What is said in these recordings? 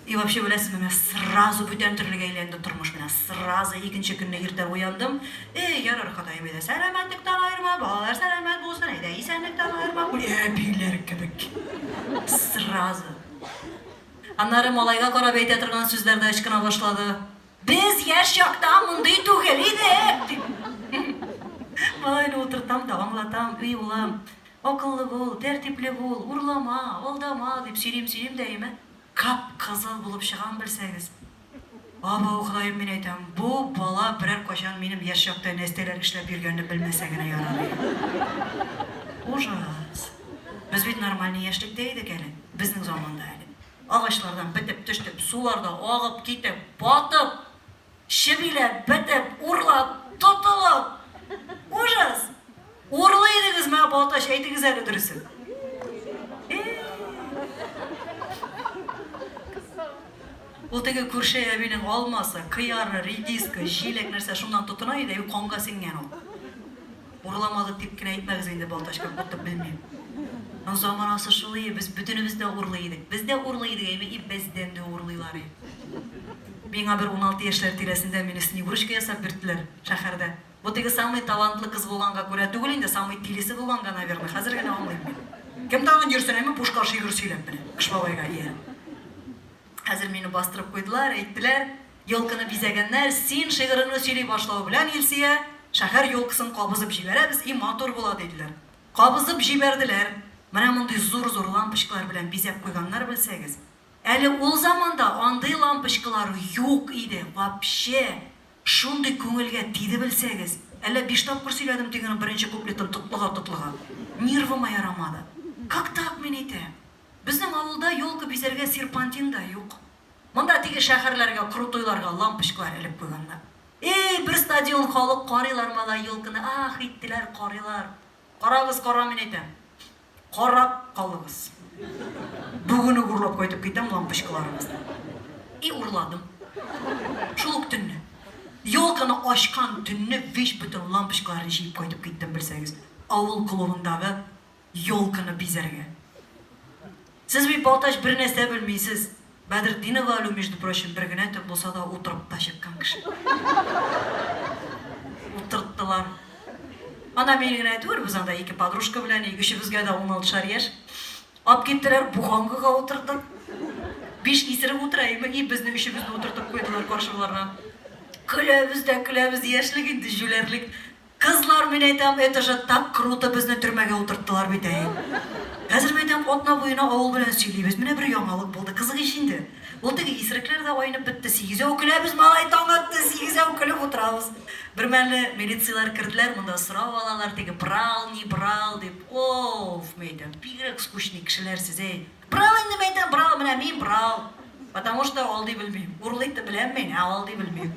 И вообще беләсезме, менә сразу бүтән төрлегә әйләнде тормыш, менә сразу икенче көнне иртә уяндым, Эй, ярар, Ходаем, әйдә, сәламәтлектән аерма, балалар сәламәт булсын, әйдә, исәнлектән аерма, күр, әбиләр кебек, сразу. Аннары малайга карап әйтә торган сүзләр дә ычкына башлады. Без яшь чакта мондый түгел идек! дип, малайны утыртам да аңлатам, Эй, улым, акыллы бул, тәртипле бул, урлама, алдама, дип сөйлим, сөйлим дә өемә кап-кызыл булып чыгам, белсәгез. Абау, Ходаем, мин әйтәм, бу бала берәр кайчан минем яшь чакта нәстәләр эшләп йөргәнне белмәсә генә ярар иде. Ужас! Без бит нормальный яшьлектә идек әле, безнең заманда әле. Агачлардан бетеп төштеп, суларда агып китеп, батып, чебиләп, бетеп, урлап, тотылып! Ужас! Урлый идегезме, ә Балтач, әйтегез әле дөресен. Ул теге күрше әбинең алмасы, кыяры, редиска, җиләк нәрсә шуннан тотына иде, юк, канга сеңгән ул. Урламады дип кенә әйтмәгез инде, Балтачка кайтып белмим. Ну заманасы шул ие, без бөтенебез дә урлый идек. Без дә урлый идек, әйме, и бездән дә урлыйлар и. Миңа бер уналты яшьләр тирәсендә мине Снегурочка ясап бирттеләр, шәһәрдә. Бу теге самый талантлы кыз булганга күрә түгел инде, самый тилисе булганга, наверно, хәзер генә аңлыйм. Кем тагын йөрсен, әйме, бушка шигырь сөйләп менә, Кыш бабайга ия. Хәзер мине бастырып куйдылар, әйттеләр. Елкыны бизәгәннәр, Син шигыреңне сөйли башлау белән, Илсөя, шәһәр елкысын кабызып җибәрәбез, и матур була, диделәр. Кабызып җибәрделәр. Менә мондый зур-зур лампочкалар белән бизәп куйганнар, белсәгез. Әле ул заманда андый лампочкалар юк иде, вообще! Шундый күңелгә тиде, белсәгез. Әллә биш тапкыр сөйләдем тегенең беренче куплетын тотлыга-тотлыга. Нервыма ярамады. Как так мин әйтәм? Безнең авылда елка бизәргә серпантин да юк. Монда теге шәхәрләргә крутойларга лампочкалар элеп куйганнар. Эй, бер стадион халык карыйлар малай ёлкыны ах иттеләр карыйлар. Карагыз карамин әйтәм. Карап калыгыз. Бүген үк урлап кайтып китәм лампочкаларыгызны. И урладым. Шул ук төнне. Ёлканы ачкан төнне вич бөтен лампочкаларны җыеп кайтып киттем белсәгез. Авыл клубындагы Ёлканы бизәргә. Сез бит, Балтач, бер нәрсә белмисез. Бәдретдинова Алю, между прочим, бер генә төн булса да утырып та чыккан кеше. Утырттылар. Ана мин генә түгел, без анда ике подружка белән, и өчебезгә дә уналтышар яшь. Алып киттеләр, буханкага утырдык. Биш исерек утыра име, и безне өчебезне утыртып куйдылар каршыларына. Көләбез дә көләбез, яшьлек инде, җүләрлек. Кызлар, мин әйтәм, это же так круто, безне төрмәгә утырттылар бит әй. Хәзер мәйтәм, атна буена авыл белән сөйлибез, менә бер яңалык булды, кызык ич инде. Ул теге исрекләр дә айнып бетте, сигезәү көләбез, малай, таң атты, сигезәү көлеп утырабыз. Бермәлне милицияләр керделәр, монда сорау алалар, теге брал, не брал дип. Оф, мәйтәм, бигрәк скучный кешеләр сез әй. Брал инде мәйтәм, брал, менә мин брал. Потому что алдый белмим. Урлыйк та беләм мин, ә алдый белмим.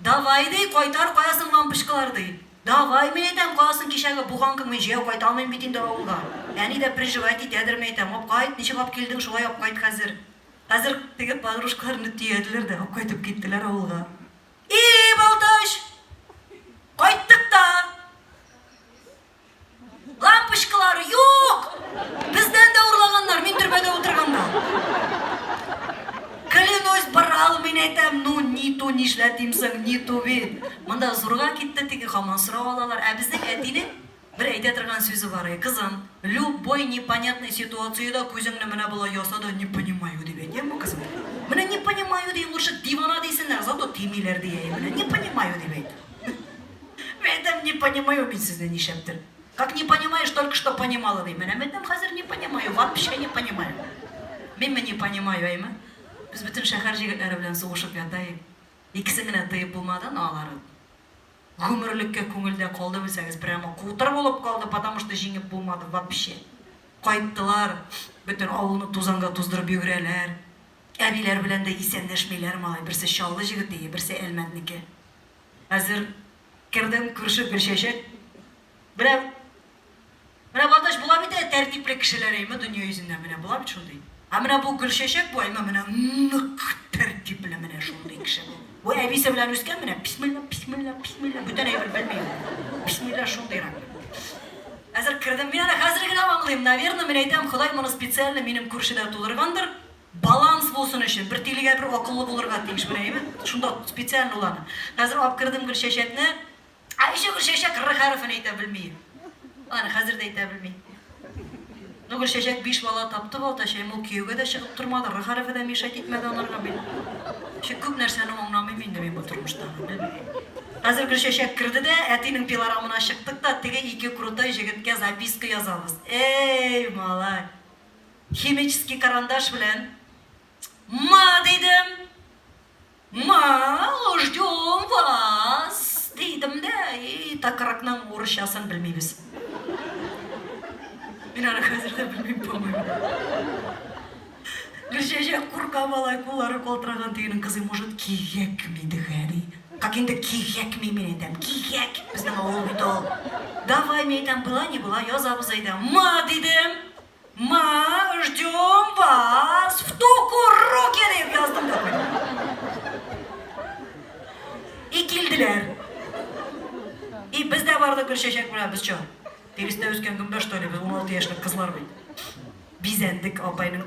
Давай ди, кайтар каясын лампочкалар ди. Давай, мин әйтәм, каясын кичәге буганкың мин җәяү кайта алмыйм бит инде авылга. Әни дә приживать итәдер мәйтәм, ап кайт, ничек ап килдең, шулай ап кайт хәзер. Хәзер теге подружкаларны төядиләр дә, ап кайтып киттеләр авылга. И, Балтач! Кайттык та! Лампочкалар юк! Бездән дә урлаганнар, мин төрбәдә утырганда. Клянусь, барал мин әйтәм, ну ниту нишләтим соң, ниту бит. Монда зурга китте теге хаман сорау алалар. Ә безнең әтинең бер әйтә торган сүзе бар, кызым, любой непонятный ситуацияда күзеңне менә болай яса да не понимаю дип әйт, яме кызым. Менә не понимаю дигән лучше дивана дисеннәр, зато тимиләр дия. Менә не понимаю дип әйт. Мәдәм не понимаю мин сезне нишләптер. Как не понимаешь, только что понимала ди. Менә мәдәм хәзер не понимаю, вообще не понимаю. Мин не понимаю, әйме? Без бөтен шәһәр җегетләре белән сугышып ятаек. Икесен генә тыеп булмады, но алары гомерлеккә күңелдә калды белсәгез, прямо кутыр булып калды, потому что җиңеп булмады вообще. Кайттылар, бөтен авылны тузанга туздырып йөгерәләр. Әбиләр белән дә исәнләшмиләр, малай, берсе Чаллы җегете, берсе Әлмәтнеке. Хәзер кердем, күрше Гөлчәчәк. Менә Менә Баташ була бит әле тәртипле кешеләр әйме дөнья йөзендә менә була бит шундый. Ә менә бу Гөлчәчәк бу әйме менә нык тәртипле менә шундый кеше бу. Бу әбисе белән үскән менә бисмилла, бисмилла, бисмилла бүтән әйбер белми. Бисмилла шундыйрак. Хәзер кердем, мин аны хәзер генә аңлыйм. Наверное, мин әйтәм, Ходай моны специально минем күршедә тудыргандыр. Баланс булсын өчен, бер тилегә бер акыллы булырга тиеш, менә әйбер, шунда специально ул аны. Хәзер алып кердем Гөлчәчәкне. Ә ничә Гөлчәчәк р хәрефен әйтә белми? Аны хәзер дә әйтә белми. Ну, Гөлчәчәк биш бала тапты, Балтачаем, ул кияүгә дә чыгып тормады, р хәрефе дә мешать итмәде анарга бит. Чик күп нәрсәне аңламыйм инде мин бу тормышта. Хәзер Гөлчәчәк керде дә, әтинең пилорамына чыктык та, теге ике крутой җегеткә записка язабыз. Эй, малай! Химический карандаш белән Ма дидем. Ма, ждем вас дидем дә, и такыракның урысчасын белмибез. Мин аны хәзер дә белмим, по-моему. Гөлчәчәк курка малай куллары калтыраган тегенең кызы, может, кигәкми дигә, ди. Как инде кигәкми мин әйтәм, кигәк, безнең авыл бит ул. Давай, мин әйтәм, была не была, язабыз әйдә. Ма, дидем. Ма, ждем вас в туку руки дип яздым да И килделәр. И без дә бардык Гөлчәчәк белән без чо. Тиресенә үскән гөмбә что ли, без 16 яшьлек кызлар бит. Бизәндек апайның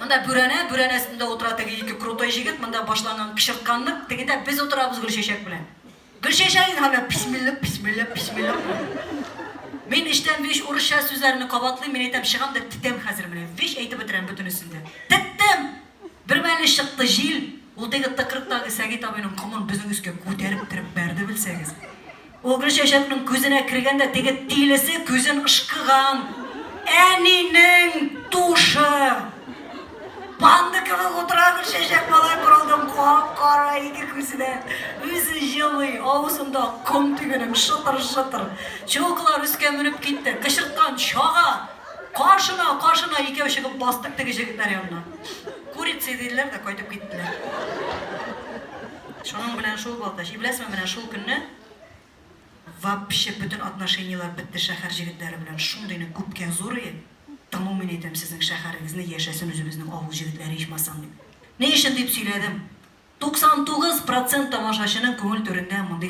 Монда бүрәнә, бүрәнә өстендә утыра теге ике крутой җегет, монда башланган кычыртканлык, тегедә без утырабыз Гөлчәчәк белән. Гөлчәчәк инде һаман бисмиллак, бисмиллак, бисмиллак. Мин эчтән биш урысча сүзләрне кабатлыйм, мин әйтәм, чыгам да тетәм хәзер менә, вич әйтеп бетерәм бөтенесен дә. Теттем! Бермәле чыкты җил, ул теге тыкрыктагы Сәгыйть абыйның комын безнең өскә күтәреп кереп бәрде, белсәгез. Ул Гөлчәчәкнең күзенә кергән дә теге тилесе күзен ышкыган әнинең тушы! Панда кебек утыра Гөлчәчәк малай бер алдын кап-кара ике күзе дә, үзе җылый, авызында ком тигенем шытыр-шытыр. Чулкылар өскә менеп китте, кычырткан чага! Каршына, каршына икәү чыгып бастык теге җегетләр янына. Курицы диделәр дә кайтып киттеләр. Шуның белән шул булды. Җибләсме менә шул көнне вообще бөтен отношениеләр бетте шәхәр җегетләре белән. Шундыйны күпкә зурые, тыңу мин әйтәм сезнең шәхәрегезне, яшәсен үзебезнең авыл җегетләре ичмасам дип. Ни өчен дип сөйләдем. 99 процент тамашачының күңел түрендә мондый.